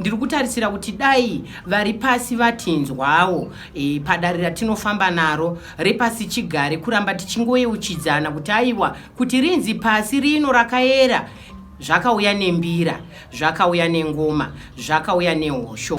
Ndiri kutarisira kuti dai vari pasi vatinzwawo e, padare ratinofamba naro repasi chigare kuramba tichingoyeuchidzana kuti aiwa kuti rinzi pasi rino rakayera zvakauya nembira zvakauya nengoma zvakauya nehosho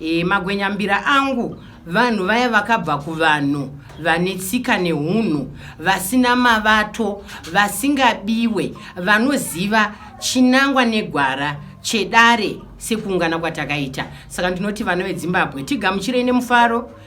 e, magwenyambira angu vanhu vaya vakabva kuvanhu vane tsika neunhu vasina mavato vasingabiwe vanoziva chinangwa negwara chedare sekuungana kwatakaita saka ndinoti vana vedzimbabwe tigamuchirei nemufaro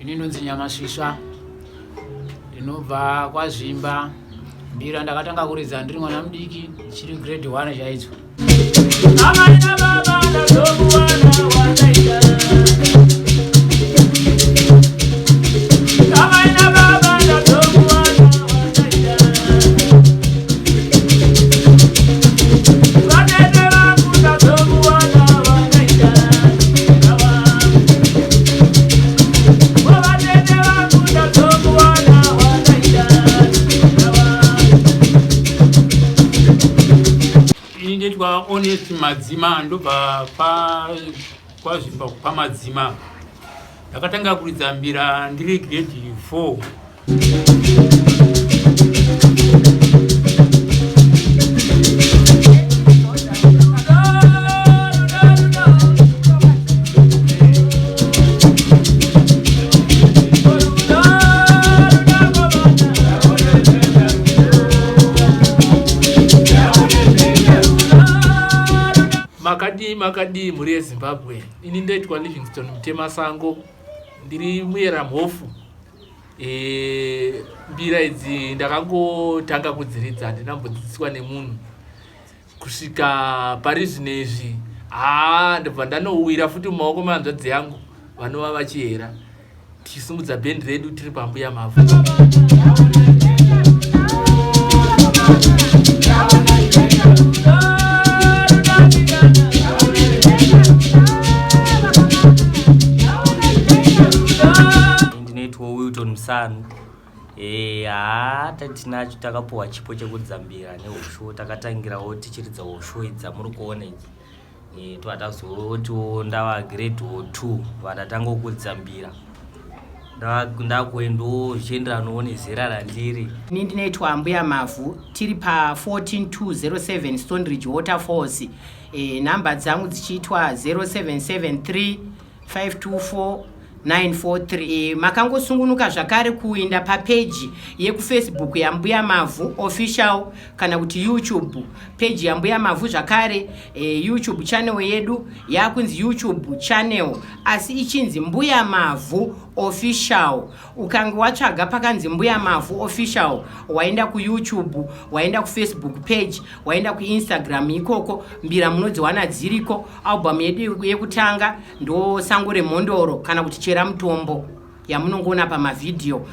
ini ndonzi nyamasvisva ndinobva kwazvimba mbira ndakatanga kuridza ndiri mwana mudiki chiri grade one chaidzo honest madzima ndobva kwazvimba kupa madzima ndakatanga kuridza mbira ndiri grade 4 makadii mhuri yezimbabwe ini ndoitwa livingston mutemasango ndiri muyera mhofu e, mbira idzi ndakangotanga kudziridza handina mbodzidziswa nemunhu kusvika pari zvino izvi haa ndobva ndanowira futi mumaoko mehanzvadzi yangu vanova vachihera tichisumudza bhendi redu tiri pambuya mavhu ndinoitwa wilton musanu eh, haa tatinacho takapuwa chipo chekudzambira nehosho takatangirawo tichiridza hosho idzamuri kuona idzi eh, twatazotiwo ndava grade o two vandatanga kudzambira ndakuendawo zvichienderanawo nezera randiri ini ndinoitwa ambuya mavhu tiri pa 14207 stonridge waterfalls e, number dzangu dzichiitwa 0773 524 943 e, makangosungunuka zvakare kuinda papeji yekufacebook yambuya mavhu official kana kuti youtube peji yambuya mavhu zvakare e, youtube channel yedu yakunzi youtube channel asi ichinzi mbuya mavhu official ukange watsvaga pakanzi mbuya mavhu official waenda kuyoutube waenda kufacebook page waenda kuinstagram ikoko mbira munodziwana dziriko album yedu yekutanga ndosango remhondoro kana kuti chera mutombo yamunongoona pamavhidhiyo